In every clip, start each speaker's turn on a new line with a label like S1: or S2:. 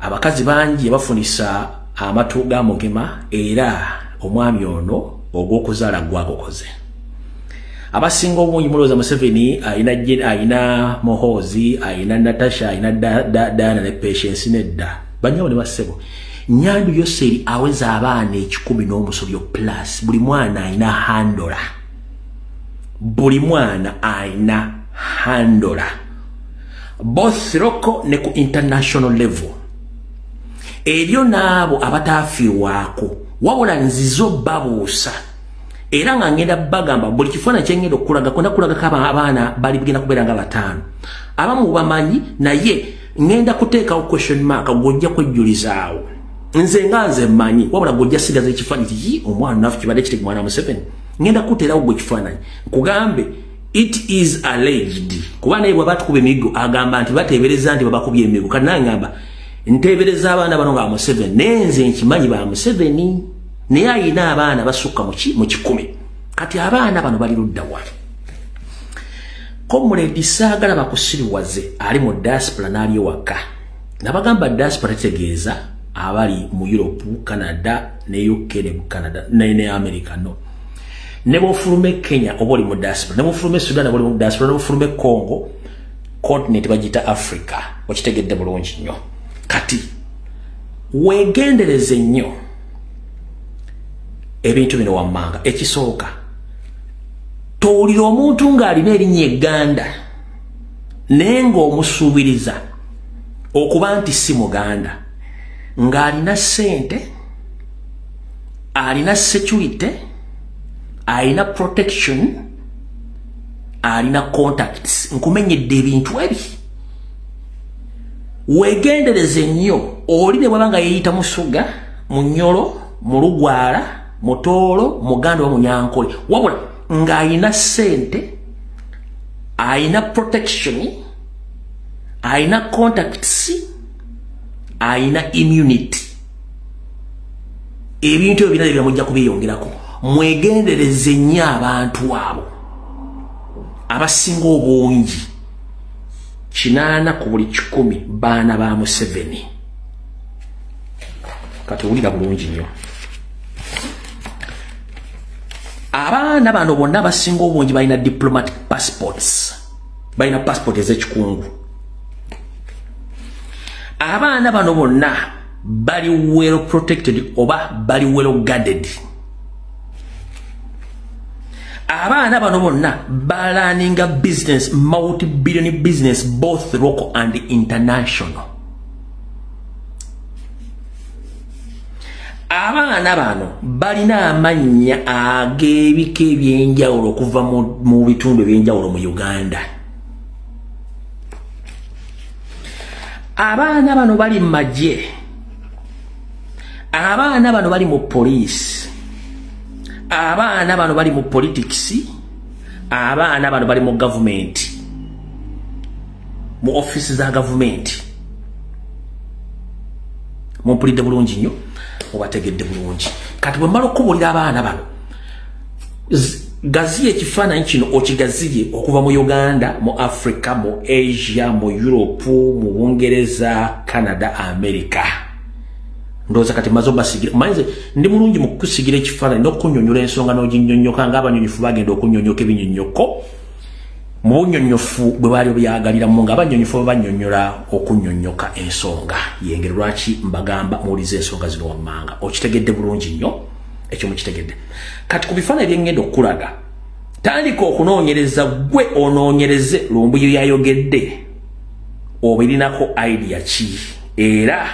S1: abakazi bangi bafunisa amatu ga mugema era omwami ono ogw'okuzaala gwagukoze abasinga obungi mulowooza museveni alina alina mohoozi alina natasha alina diana ne patience nedda banyabo ne bassebo nyandu yoseri aweza abaana ekikumi n'omusobyo plus buli mwana alina handola buli mwana alina handola both local ne ku international level eryo n'abo abataafiirwako wabula nzizo babuusa era nga ngenda bagamba buli kifaana kyengenda okulaga kwenda kulagako abaana bali bigenda kubeera nga bataano abamu bamanyi naye ngenda kuteekawo question mark gwojja kwejjulizaawo nze nga nze mmanyi wabula gwojja sigaza ekifaanyi tiyi omwana nafu kibadde kiti mwana museveni ngenda kuteerawo gwe ekifaananyi nkugambe it is alleged kuba naye bwaba tukuba emiggo agamba nti bateebereza nti babakubye emiggo kati naye ngamba nteebereza abaana bano nga museveni naye nze nkimanyi ba museveni naye ayina abaana basukka mu kikumi kati abaana bano bali ludda wa komuledi saagala bakusiriwaze ali mu diaspora n'ali ewaka nabagamba diaspora tegeeza abali mu europe canada ne uk ne canada ne america no ne bwofuluma e kenya oba oli mu diaspora ne bwofuluma e sudan oba oli mu diaspora ne bwofuluma e congo continent bagiyita africa okitegedde bulungi nnyo kati wegendereze nnyo ebintu bino wammanga ekisooka towulira omuntu ng'alina erinnya eganda naye ng'omusuubiriza okuba nti si muganda ng'alina ssente alina security alina protection alina contacts nkumenyedde ebintu ebi wegendereze nnyo oli ne bwaba nga yeyita musuga munyolo mulugwala mutoolo muganda wa munyankole wabula ng'alina sente alina protection alina contacts alina immunity ebintu ebyo birabye byamujja kubiyongerako mwegendereze nnyo abantu abo abasinga obungi kinaana ku buli kikumi baana ba museveni kati owulira bulungi nnyo abaana bano bonna abasinga obungi balina diplomatic passports balina passport ezekikungu abaana bano bonna bali well protected oba bali well guarded abaana bano bonna balaninga business multi billion business both local and international abaana bano balina amannya ag'ebika ebyenjawulo okuva mu bitundu ebyenjawulo mu uganda abaana bano bali mu magye abaana bano bali mu poliisi abaana bano bali mu politikisi abaana bano bali mu gavumenti mu office za gavumenti mumpulidde bulungi nnyo obategedde bulungi kati bwe mmala okukubuulira abaana bano gaziya ekifaananyi kino okigaziye okuva mu uganda mu africa mu asia mu europe mu bungereza canada america ndowooza kati maze obasigira manyize ndi mulungi mu kukusigira ekifaananyi n'okunyonyola ensonga n'oginyonyoka ng'abanyonyofu bagenda okunyonyoka ebinyonyoko mu bunyonyofu bwe baali obyagaliramu nga abanyonyofu babanyonyola okunyonyoka ensonga yengeri lwaki mbagamba muwulize ensonga zino wammanga okitegedde bulungi nnyo ekyo mukitegedde kati ku bifaananyi byengenda okukulaga tandika okunoonyereza gwe onoonyereze lumbuyo yayogedde obirinako idea ki era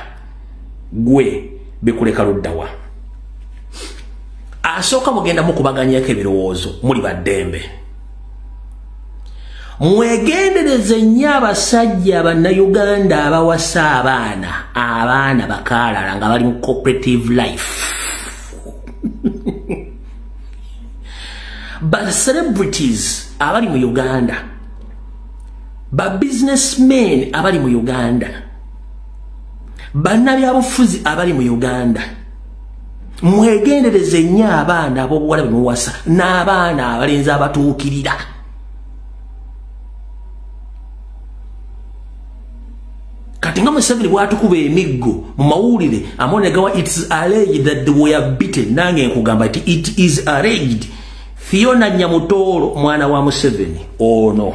S1: gwe bikuleka luddawa asooka mugendamu kubaganyako ebirowoozo muli baddembe mwegendereze nnyo abasajja bannayuganda abawasa abaana abaana bakaalala nga bali mu cooperative life bacelebrities abali mu uganda babusinessmen abali mu uganda bannabyabufuzi abali mu uganda mwegendereze nnyo abaana abobuwala bemuwasa n'abaana abalenzi abatuukirira kati nga museveni bwatukuba emiggo mu mawulire amonegawa its alleged that the way bitten nange nkugamba ti it is alleged fiona nyamutoolo mwana wa museveni ono oh no.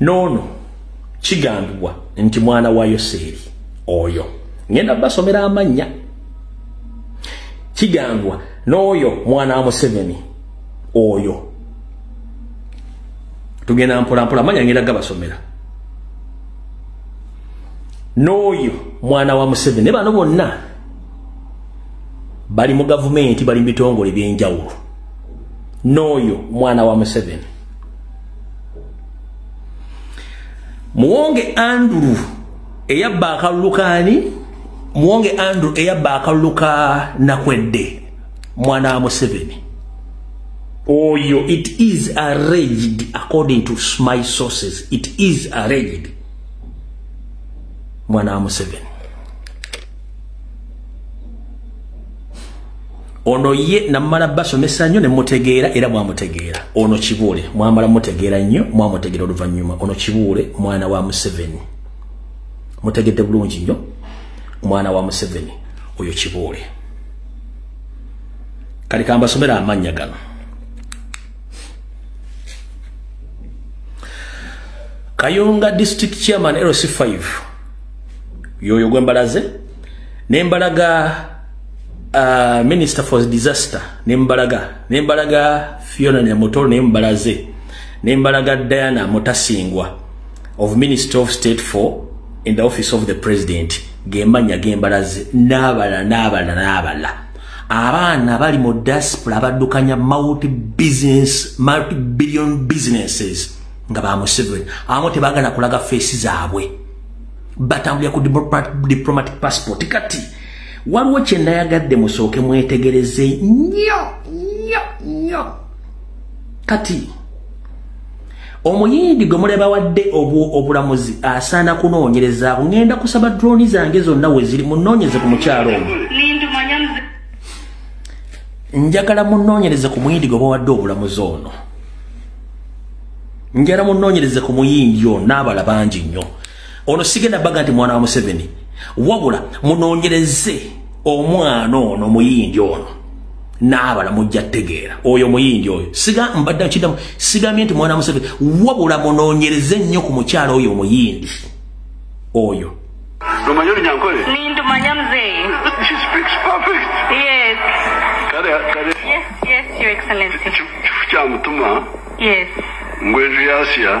S1: noono kigambibwa nti mwana wa yoseeri oyo ngenda basomera amannya kigambibwa n'oyo mwana wa museveni oyo tugenda mpolampola amanya ngenda gabasomera n'oyo mwana wa museveni naye bano bonna bali mu gavumenti bali mu bitongole byenjawulo n'oyo mwana wa museveni muwonge andrew eyabba akalulu kaani muwonge andrew eyabba akalulu ka nakwedde mwana wa museveni oyo it is arranged according to my sources it is arranged mwana wa museveni ono ye namala basomesa nnyo nemutegeera era mwamutegeera ono kibuule mwamala mutegeera nnyo mwamutegeera oluvannyuma ono kibuule mwana wa museveni mutegedde bulungi nnyo mwana wa museveni oyo kibuule kale kambasomera amannya gano kayunga district chairman lc5 yoyo gwembalaze nembalaga uh, minister for disaster nembalaga nembalaga fiona nyamutoro nembalaze nembalaga diana mutasingwa of minister of state for in the office of the president gemanya gembalaze nabala nabala nabala abaana bali mu diaspora abaddukanya multi business multi billion businesses nga ba museveni abamu tebagana kulaga feesi zaabwe batambulira ku diplomatic passport kati waliwo kyendayagadde musooke mwetegereze nyo nyo nyo kati omuyindi gwe mulebawadde obulamuzi asaana kunoonyereza ngenda kusaba drooni zange zonna weziri munoonyeze ku mukyalo omu njagala munoonyereze ku muyindi gwe bawadde obulamuzi ono njala munoonyereze ku muyindi ono n'abala bangi nnyo ono sigenda baga nti mwana wa museveni wabula munonyereze omwana ono muyindi ono naabala mujja tegeera oyo muyindi oyo siga mbadde nkidamu sigambye nti mwana wa museveni wabula munonyereze nnyo ku mukyalo oyo omuyindi oyo Lumanyo
S2: lunyankole? Ni ndumanya
S3: mzee. She speaks perfect. Yes. Kare,
S2: kare. Yes, yes, your excellency.
S3: Chufu cha mtuma.
S2: Yes.
S3: Ngwezu
S2: yasia.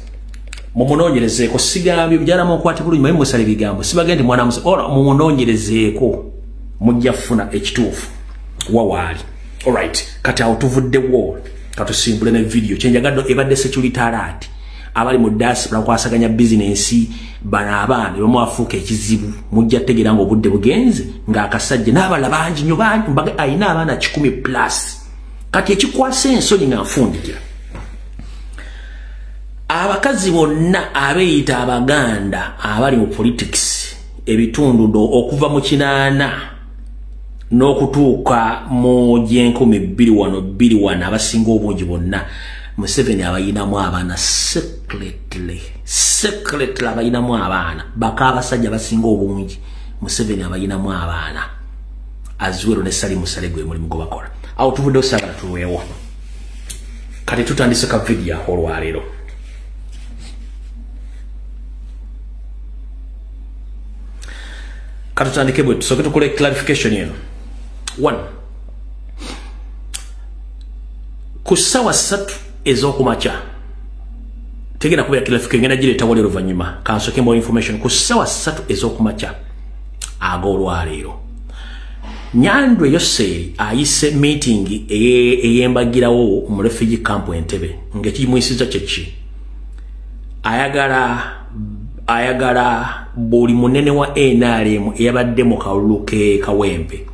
S1: mumunonyerezeeko sigambye mujala mukwate bulungi maye musala ebigambo sibagee nti mwana musa ora mumunonyerezeeko mujja kufuna ekituufu wawaali olright kati awo tuvuddewo katusimbule ne vidiyo kyenjagaddo ebadde security alert abali mu dasipula nkwasaganya bizinensi bano abaana ebamu afuuka ekizibu mujja tegeera nga obudde bugenze ng'akasajja n'abala bangi nyo bangi mbaga alina abaana kikumi plus kati ekikwasa ensonyi nga nfundikira abakazi bonna abeeyita abaganda abali mu politics ebitundu do okuva mu kinaana n'okutuuka mu gyenkumi bbiri wano bbiri wano abasinga obungi bonna museveni abayinamu abaana secretly secretly abayinamu abaana baka abasajja basinga obungi museveni abayinamu abaana aziwero ne sali musale gwe mulimu gwebakola awo tuvuddewo sagala tulwewo kati tutandise ka vidiyo ako olwaleero katutandike bwe tusooke tukole clarification eno one ku ssawa ssatu ez'okumakya tegenda kubeera clarification ngenda gireeta wali oluvannyuma kansooke more information ku ssawa ssatu ez'okumakya ag'olwaleero nyandwe yoseeri ayise miitingi eyembagirawo mu refugee camp entebe ngaekimuyisiza kyeki ayagala ayagala buli munene wa nrm eyabadde mu kalulu ke kawempe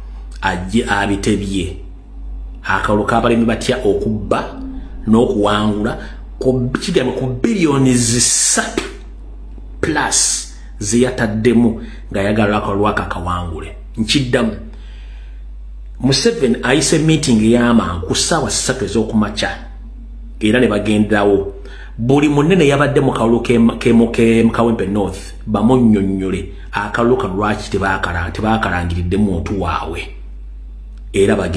S1: ajje abitebye akalulu kabalemi batya okubba n'okuwangula kigambo ku billioni zisatu plus zeyataddemu ng'ayagala akalwako akawangule nkiddamu museveni ayise meeting ey'amangu ku ssaawa ssatu ez'okumakya era ne bagenderawo buli munene yabadde mu kalulu kemukawempe north bamunnyonnyole akalulu kano lwaki tebakalangiridde muntu waabwe era bagenda